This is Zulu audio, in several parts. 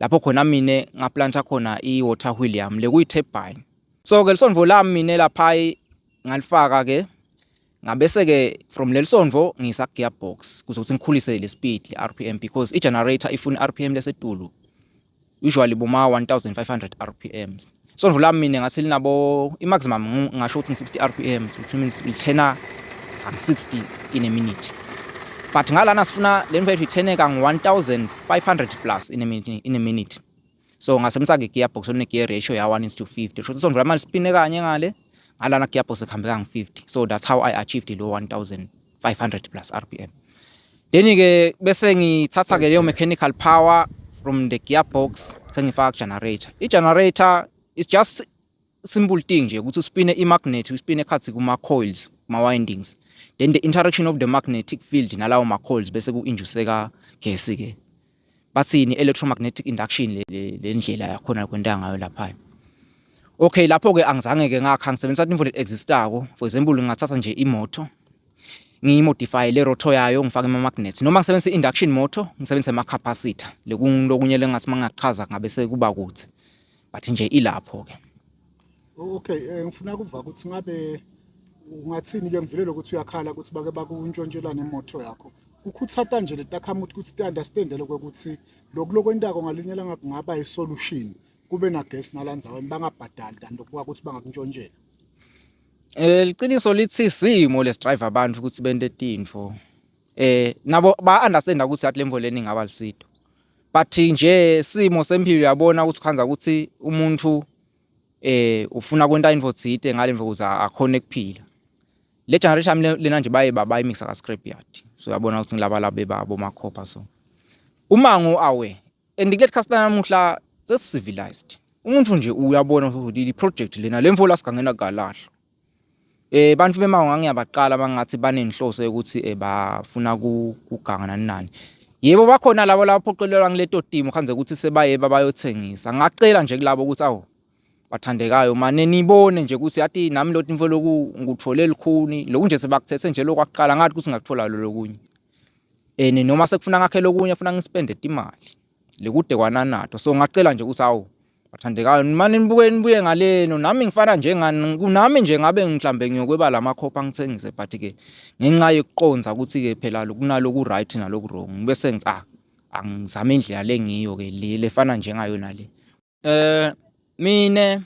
lapho khona mina ngaplanta khona i-water wheel yami le kuyi-turbine. So-ke lisondvo lami mina laphayi ngalifaka-ke ngabese-ke from leli sondvo ngiyisa ku-gearbox kuze ukuthi ngikhulise le speed le-r p m because i-generator ifuna i-r p m lesetulu usually boma-one thousand five hundred r p ms. Isondo lami mina ngathi linabo i-maximum ngasho ukuthi ngi-60 rpm which means lithena ngangu-60 in a minute but ngalana sifuna le mfethu ithene kangu-1500 plus in a minute, in a minute. so ngasebenzisa-ke i-gearbox one-gear ratio ya-1 is to 50 sho ukuthi isondo lami lispine kanye ngale ngalana gearbox ekuhambe kangu-50 so that's how i achieved lo 1000 500 plus RPM. Then ke bese ngithatha ke leyo mechanical power from the gearbox sengifaka generator. I generator is just simple thing nje ukuthi uspine i magnet, uspine khathi kuma coils, ma windings. Then the interaction of the magnetic field nalawo ma coils bese ku induceka gesi ke. bathini electromagnetic induction le ndlela yakhona kwenta ngayo lapha okay lapho ke angizange ke ngakha ngisebenzisa into le existako for example ngingathatha nje imoto ngiyimodify le rotor yayo ngifake ama magnets noma ngisebenzisa induction motor ngisebenzise ama capacitor lokunye lengathi mangachaza ngabe sekuba kuthi but nje ilapho ke okay eh, ngifuna kuva ukuthi ngabe ungathini ke ngivulele ukuthi uyakhala ukuthi bake bakuntshontshelane imoto yakho ukhuthata nje letakhamuthi ukuthi ti-understande lokho ukuthi lokhu lokwentako ngalinye langa kungaba i-solution kube nagesi nalandzaweni bangabhadali than lokuba ukuthi bangakuntshontshela um liqiniso lithi simo lesidrayiva abantu ukuthi bente tintfo eh nabo ba understand ukuthi athi lemvula eningi abalisido but nje simo sempilo yabona ukuthi khanza ukuthi umuntu eh ufuna kwenta into thide ngalemvu kuze akhone kuphila le generation lena nje baye baba imixa ka scrap yard so yabona ukuthi ngilaba labe babo makhopha so umango awe and kuleli customer namuhla sesi civilized umuntu nje uyabona ukuthi i project lena lemvu la sigangena kalahlo Eh bantu bemango ngangiyabaqala bangathi banenhloso yokuthi eh, bafuna kuganga nani nani. Yebo bakhona labo laphoqelelwa ngileto timo khanze ukuthi sebaye babayothengisa. Ngacela nje kulabo ukuthi awu bathandekayo mane nibone nje ukuthi yathi nami loti mfo loku ngikuthole likhuni lokhu nje sebakuthethe nje lokwaqala ngathi ukuthi ngakuthola lo lokunye. Eh noma sekufuna ngakhe lokunye funa ngispende imali. Lekude kwananato. So ngacela nje ukuthi awu Bathandekayo nimane nibuke nibuye ngaleno nami ngifana njengani kunami nje ngabe mhlambe ngiyokweba la makhopha ngithengise but ke ngenxa yokuqonza ukuthi ke phela kunaloku right naloku wrong bese ngithi ah angizame indlela lengiyo ke le lefana njengayona le eh mina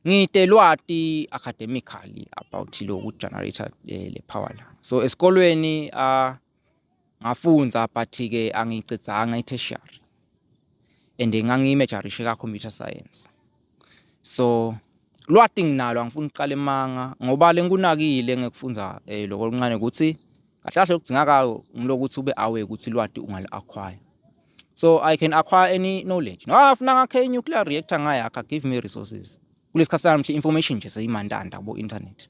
ngide lwati academically about loku generator eh, le power la so esikolweni ah uh, Ngafundza but-ke angiyicedzanga i-tertiary and ngangiyimejarishe ka-computer science. So lwati nginalo angifuni ukuqala emanga ngoba lengikunakile engikufundza eh, loko luncane ukuthi kahle kahle okudzingakayo ngilokuthi ube aware ukuthi lwati ungalu-acquire. So I can acquire any knowledge. No, afuna ngakhe i-nuclear reactor ngayakha, give me resources. Kulesikhathi sanamuhla information nje seyimandanda kubo-internet.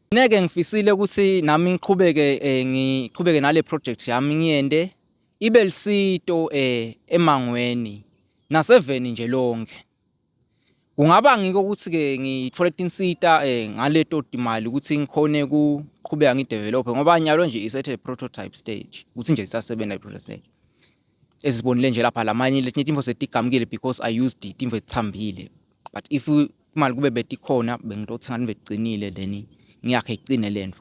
Ngeke ngifisile ukuthi nami ngiqhubeke eh, ngiqhubeke nale project yami ngiyende ibe lisito eh, emangweni naseveni nje lonke. Kungaba ngiko ukuthi ke ngithole tinsita eh, ngaleto timali ukuthi ngikhone kuqhubeka ngidevelop ngoba nyalo nje isethe prototype stage ukuthi nje isasebenza prototype stage. Ezibonile nje lapha lamanye letinye timfo setigamukile because I used timfo ezithambile but if imali kube betikhona bengitothi ngani becinile leni ngiyakhe icine lento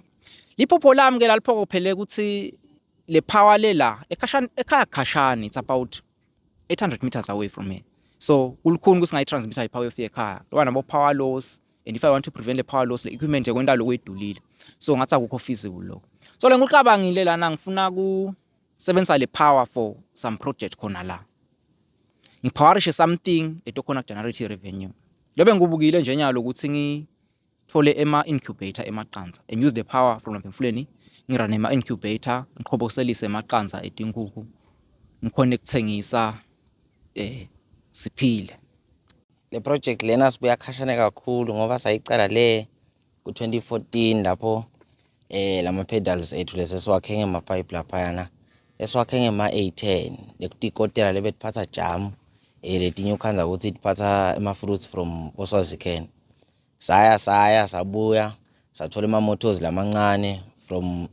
liphupho lami ke laliphokophele ukuthi le power le la ekhashana ekhaya khashana it's about 800 meters away from here so kulukhuni ukuthi ngayitransmitter ipower yofi ekhaya loba nabo power loss and if i want to prevent the power loss le equipment ekwenta lokuyidulile so ngathi akukho feasible lokho so le ngikucabangile lana ngifuna ku sebenzisa le power for some project khona la ngiphawarishe something leto khona generate revenue lobe ngikubukile nje nyalo ukuthi ngithole ema incubator emaqanza and use the power from emfuleni ngirane ema incubator ngiqhoboselise emaqanza etinkukhu ngikhona ekuthengisa eh siphile le project lena sibuya khashane kakhulu ngoba sayicala le Ku-2014 lapho eh lama-pedals ethu lesi esiwakhe ngema-pipe laphayana esiwakhe ngema-A10 lekutikotela lebetiphatsa jamu eh letinye ukhandza ukuthi tiphatsa ama-fruits from oswazican saya saya sabuya sathola ama-motors lamancane from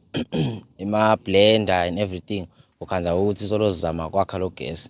ema-blender and everything ukhandza ukuthi solozama kwakha lo gesi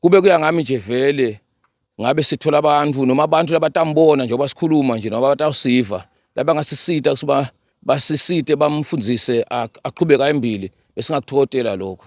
Kube kuya ngami nje vele ngabe sithola abantu noma abantu labatambona njengoba sikhuluma nje noma batawusiva labangasisita kusuba basisite bamfundise aqhubeke ayembili besingakuthokotela lokho.